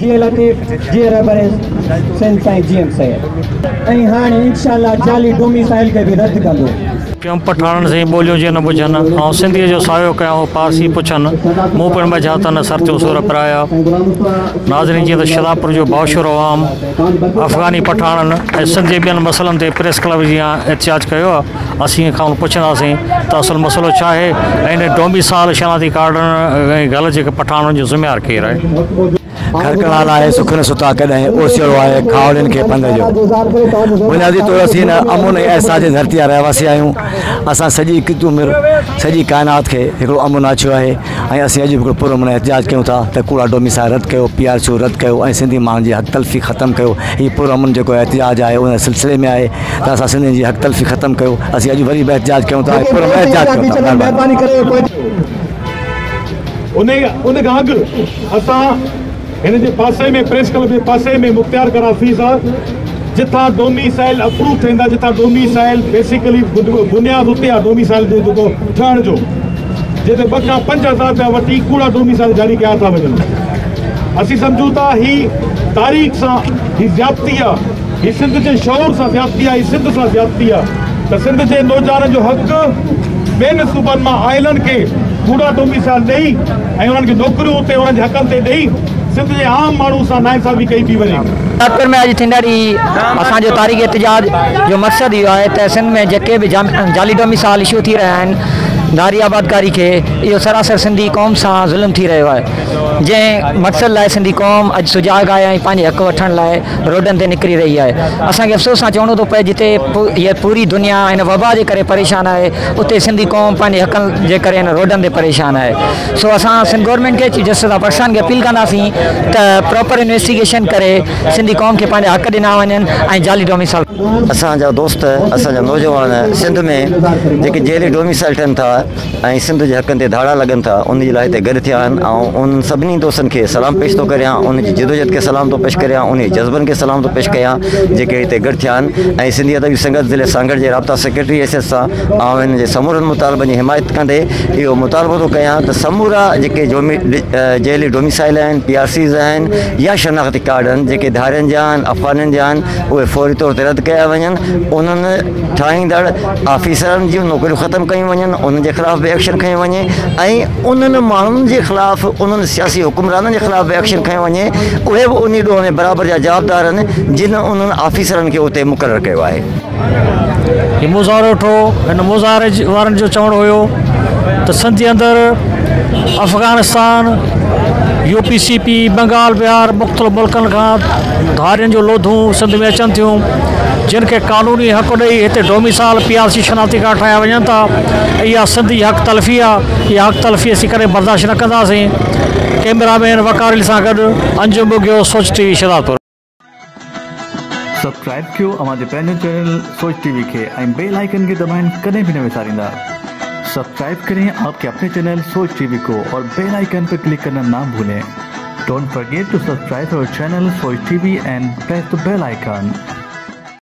جيئي لطيف جيئي رهبريز سنڌ سائين جي ايم سيد ۽ هاڻي انشاء الله جعلي ڊوميسائل کي به رد ڪندو. ٽيون پٺاڻن سين ٻوليون جيئن نه ٻجهن، آئون سنڌيء جو ساهيو ڪيان هو پارسي پڇن، مون پڻ ٻجها ته نه سرتيون سور پرايا. ناظرين جيئن ته شھداپور جو باشعور عوام افغاني پٺاڻن ۽ سنڌ جي ٻين مسئلن تي پريس ڪلب جيان احتجاج ڪيو ها، اسين کانئن پڇنداسين ته اصل مسئلو ڇا آهي ۽ ان ڊومي سال شناختي ڪارڊن ۽ گل جي پٺاڻن جو ذميوار ڪير آهي؟ گهر ڪنال آهي سک نه ستا ڪڏهن اوسيئڙو آهي کاهوڙين کي پنڌ جو. بنيادي طور اسين هن امن ۽ احساس جي ڌرتي جا رهواسي آهيون. اسان سڄي ڪتب مر سڄي ڪائنات کي هڪڙو امن آڇيو آهي. ۽ اسين اڄ به هڪڙو پر امن احتجاج ڪيون ٿا ته ڪوڙا ڊومي سان رد ڪيو، پي آر سيون رد ڪيو ۽ سنڌي ماڻهن جي حق تلفي ختم ڪيو. هي پر امن جيڪو احتجاج آهي ان سلسلي ۾ آهي ته اسان سنڌين جي حق تلفي ختم ڪيو. اسين اڄ وري به احتجاج ڪيون ٿا ۽ پر امن احتجاج ڪيون ٿا. مهرباني. هن جي پاسي ۾ پريس ڪلب جي پاسي ۾ مختيار ڪر آفيس آ جتان ڊوميسائل اپروو ٿيندا جتان ڊوميسائل بيسيڪلي بنياد اتي آ ڊوميسائل جو جيڪو ٺهڻ جو جي تي ٻه کان پنج هزار رپيا وٺي ڪوڙا ڊوميسائل جاري ڪيا ٿا وڃن اسين سمجهون ٿا هي تاريخ سان هي زيادتي آ هي سنڌ جي شعور سان زيادتي آ هي سنڌ سان زيادتي آ ته سنڌ جي نوجوانن جو حق ٻين صوبن مان آيلن کي ڪوڙا ڊوميسائل ڏئي ۽ انهن کي نوڪريون اتي انهن جي حقن تي ڏئي سنڌ جي عام ماڻهو سان ناانصافي ڪئي پئي وڃي. ٽاڪر ۾ اڄ ٿيندڙ اي اسان جو تاريخي احتجاج جو مقصد اهو آهي ته سنڌ ۾ جيڪي به جعلي ڊوميسائل اشو ٿي رهيا آهن ڌاري آبادڪاري کي اهو سراسر سنڌي قوم سان ظلم ٿي رهيو آهي جنهن مقصد لاء سنڌي قوم اڄ سجاڳ آهي ۽ پنهنجي حق وٺڻ لاء روڊن تي نڪري رهي آهي اسان کي افسوس سان چوڻو ٿو پئي جتي پوري دنيا هن وبا جي ڪري پريشان آهي اتي سنڌي قوم پنهنجي حقن جي ڪري هن روڊن تي پريشان آهي سو اسان سنڌ گورنمينٽ کي چيف جسٽس آف پاڪستان کي اپيل ڪنداسين ته پراپر انويسٽيگيشن ڪري سنڌي قوم کي پنهنجا حق ڏنا وڃن ۽ جعلي ڊوميسائل اسان جا دوست اسان جا نوجوان سنڌ ۾ جيڪي جعلي ڊوميسائل ٺهن ٿا ۽ سنڌ جي حقن تي ڌاڙا لڳن ٿا ان جي لاء هتي گڏ ٿيا آهن آئون انهن سڀني دوستن کي سلام پيش ٿو ڪريان انهن جي جدوجهد کي سلام ٿو پيش ڪريان انهن جي جذبن کي سلام ٿو پيش ڪيان جيڪي هتي گڏ ٿيا آهن ۽ سنڌي ادبي سنگت ضلعي سانگهڙ جي رابطا سيڪريٽري ايس ايس سان آئون هن جي سمورن مطالبن جي حمايت ڪندي اهو مطالبو ٿو ڪيان ته سمورا جيڪي جيلي ڊوميسائيل آهن، پي آر سيز آهن يا شناختي ڪارڊ آهن جيڪي ڌارين جا آهن، افغانين جا آهن اهي فوري طور تي رد ڪيا وڃن، انهن ٺاهيندڙ آفيسرن جون نوڪريون ختم ڪيون وڃن، انهن جي خلاف به ايڪشن کنيو وڃي ۽ انهن ماڻهن جي خلاف انهن سياسي حڪمرانن جي خلاف به ايڪشن کنيو وڃي اهي به انهي ڏوهه ۾ برابر جا جوابدار آهن جن انهن آفيسرن کي اتي مقرر ڪيو آهي. هي مظاهرو ڏٺو هن مظاهري وارن جو چوڻ هيو ته سنڌ اندر Afghanistan U P C P Bengal Bihar مختلف ملڪن کان ڌارين جو لوڌون سنڌ ۾ اچن ٿيون جن کي قانوني حق ڏئي هتي ڊوميسال پي آر سي شناختي ڪارڊ ٺاهيا وڃن ٿا اها سنڌ جي حق تلفي آهي اها حق تلفي اسين ڪڏهن برداشت نه ڪنداسين ڪيمرا مين وقار علي سان گڏ Anjum Bughio Soch T V Shahdadpur subscribe ڪيو اوهان جي پنهنجو چينل سوچ ٽي وي کي ۽ بيل آئيڪن کي دٻائڻ ڪڏهن به نه وساريندا سبسڪرائب ڪرين آپ ڪي اپني چينل سوچ ٽي وي ڪو اور بيل آئيڪن پي ڪلڪ ڪرنا نا ڀولين ڊونٽ فرگيٽ ٽو سبسڪرائب اور channel Soch T V and press the bell icon.